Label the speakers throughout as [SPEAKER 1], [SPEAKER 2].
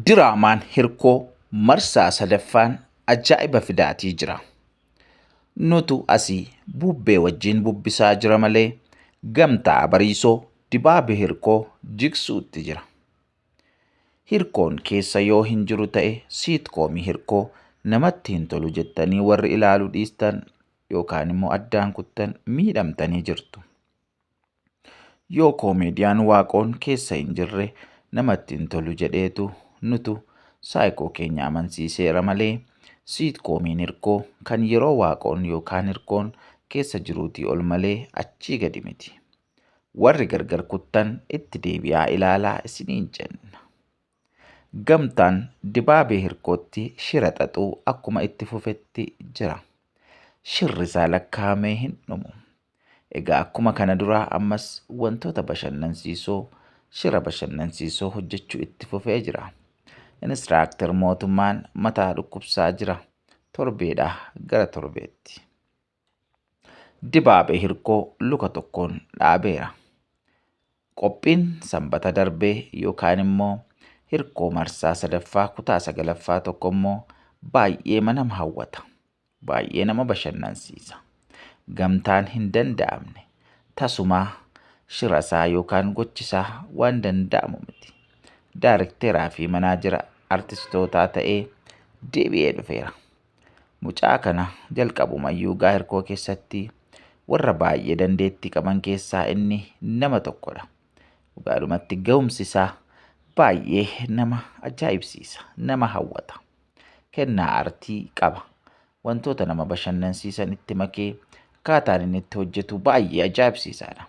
[SPEAKER 1] Diraamaan Hirkoo marsaa sadaffaan ajaa'iba fidaatii jira. Nutu asii bubbee wajjin bubbisaa jira malee gamtaa Bariisoo dibaabi Hirkoo jigsuutti jira. Hirkoon keessa yoo hin jiru ta'e siitkoomii Hirkoo namatti hin tolu jettanii warri ilaalu dhiistan yookaan immoo addaan kuttan miidhamtanii jirtu. Yoo koomediyaan waaqoon keessa hin jirre namatti hin tolu jedheetu nutu saayikoo keenya amansiiseera malee siitkoomiin hirkoo kan yeroo waaqoon yookaan hirkoon keessa jiruutii ol malee achii gadi miti. Warri gargar kuttan itti deebi'aa ilaalaa isiniin jenna. Gamtaan Dibaabee Hirkootti shira xaxuu akkuma itti fufetti jira. Shirri isaa lakkaa'amee hin dhumu. Egaa akkuma kana duraa ammas wantoota bashannansiisoo shira bashannansiisoo hojjechuu itti fufee jira. Inistiraaktar mootummaan mataa dhukkubsaa jira. Torbeedhaa gara torbeetti. dibaabee hirkoo luka tokkoon dhaabeera. Qophiin sanbata darbee yookaan immoo hirkoo marsaa sadaffaa kutaa sagalaffaa tokko immoo baay'ee nama hawwata. Baay'ee nama bashannansiisa. Gamtaan hin danda'amne tasumaa shirasaa yookaan gochisaa waan danda'amu miti. Daarikteeraa fi manaajera artistootaa ta'ee deebi'ee dhufeera. Mucaa kana jalqabumayyuu gaa'irkoo keessatti warra baay'ee dandeettii qaban keessaa inni nama tokkodha. Dhugaadhumatti ga'umsi isaa baay'ee nama ajaa'ibsiisa, nama hawwata. Kennaa artii qaba. Wantoota nama bashannansiisan itti makee akkaataan inni itti hojjetu baay'ee ajaa'ibsiisaadha.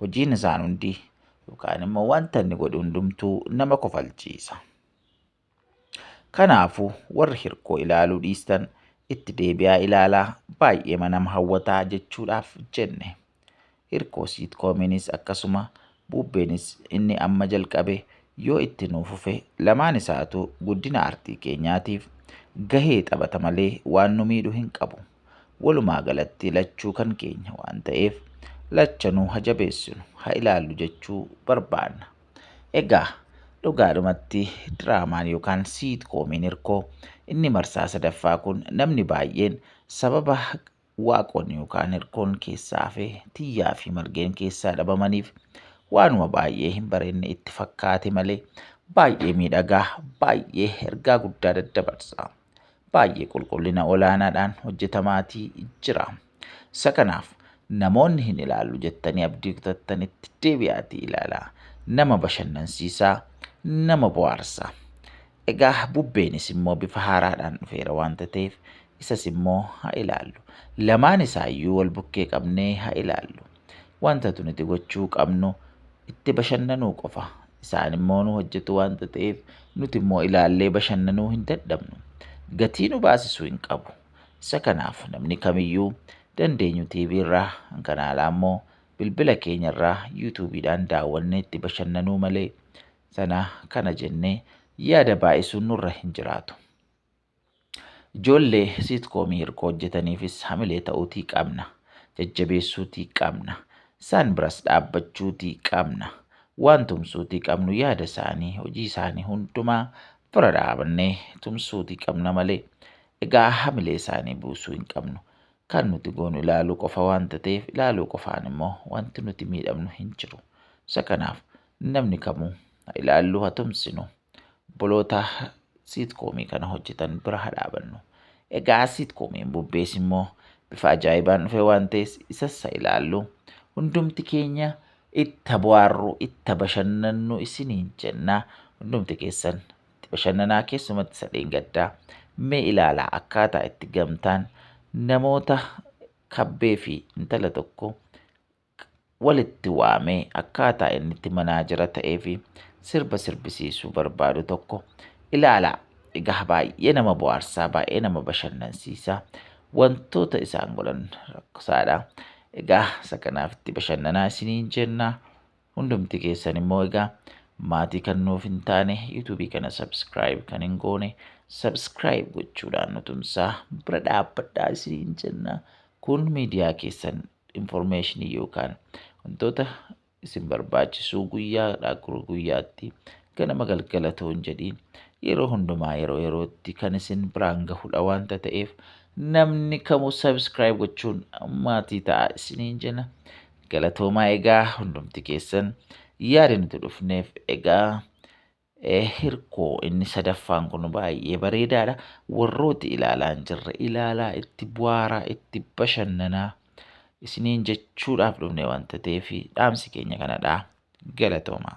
[SPEAKER 1] Hojiin isaan hundi yookaan immoo wanta inni godhu hundumtuu nama kofalchiisa. Kanaafuu warri hirkoo ilaaluu dhiistan itti deebi'aa ilaalaa baay'eema nama hawwataa jechuudhaaf jenne. Hirkoo siitkoominiis akkasuma buubbeenis inni amma jalqabe yoo itti nuu fufe lamaan isaatu guddina artii keenyaatiif gahee taphata malee waan nu miidhu hin qabu. Walumaa galatti lachuu kan keenya waan ta'eef lachanuu ha jabeessinu ha ilaallu jechuu barbaanna. Egaa dhugaadhumatti diraamaan yookaan siitkoomiin hirkoo inni marsaa sadaffaa kun namni baay'een sababa waaqoon yookaan hirkoon keessaa hafe tiyyaa fi margeen keessaa dhabamaniif waanuma baay'ee hin barenne itti fakkaate malee baay'ee miidhagaa baay'ee ergaa guddaa daddabarsa. baay'ee qulqullina olaanaadhaan hojjetamaatii jira. Isa kanaaf namoonni hin ilaallu jettanii abdii kutattanitti deebi'aatii ilaalaa. Nama bashannansiisaa, nama bohaarsaa. Egaa bubbeenis immoo bifa haaraadhaan dhufeera waanta ta'eef isas immoo haa ilaallu. Lamaan isaayyuu wal bukkee qabnee haa ilaallu. Wantatu nuti gochuu qabnu itti bashannanuu qofa. Isaan immoo nu hojjetu wanta ta'eef nuti immoo ilaallee bashannanuu hin dadhabnu. Gatii nu baasisuu hin qabu. Isa kanaaf namni kamiyyuu dandeenyu TV irraa kan alaa immoo bilbila keenya irraa yuutuubiidhaan daawwannee itti bashannanuu malee sana kana jennee yaada baay'isuun nurra hin jiraatu. Ijoollee siitkoomii hirkoo hojjetaniifis hamilee ta'uutii qabna. Jajjabeessuutii qabna. Isaan biras dhaabbachuutii qabna. Waan tumsuutii qabnu yaada isaanii, hojii isaanii hundumaa bira dhaabannee tumsuutii qabna malee egaa hamilee isaanii buusuu hin qabnu. Kan nuti goonu ilaaluu qofa waanta ta'eef ilaaluu qofaan immoo wanti nuti miidhamnu hin jiru. Isa kanaaf namni kamuu ha ilaallu ha tumsinu. Obboloota siitkoomii kana hojjetan bira haa dhaabannu. Egaa siitkoomii bubbees immoo bifa ajaa'ibaan dhufe waan ta'es isas haa ilaallu. Hundumti keenya itti bohaarru, itti bashannannu isiniin jenna. Hundumti keessan itti bashannanaa keessumatti isa dheengaddaa. Mee ilaalaa akkaataa itti gamtaan namoota kabbee fi intala tokko walitti waamee akkaataa inni itti manaajera ta'ee fi sirba sirbisiisuu barbaadu tokko ilaalaa. Egaa baay'ee nama bohaarsaa, baay'ee nama bashannansiisaa. Wantoota isaan godhan rakkosaadha. Egaa isa kanaaf itti bashannanaa isiniin jenna. Hundumti keessan immoo egaa maatii kan nuuf hin taane yuutuubii kana sabskiraayib kan hin goone sabskiraayib gochuudhaan nu tumsaa bira dhaabbadhaa isiniin jenna. Kun miidiyaa keessan information yookaan wantoota isin barbaachisuu guyyaadhaa gara guyyaatti ganama galgala toon jedhiin yeroo hundumaa yeroo yerootti kan isin biraan gahudha wanta ta'eef namni kamuu subscribe gochuun maatii ta'a isiniin jenna galatoomaa egaa hundumti keessan yaada nuti dhufneef egaa Hirkoo inni sadaffaan kun baay'ee bareedaadha. Warrooti ilaalaa hin jirre ilaalaa itti bu'aaraa itti bashannanaa isiniin jechuudhaaf dhufne wanta ta'eef dhaamsi keenya kanadha. Galatoomaa.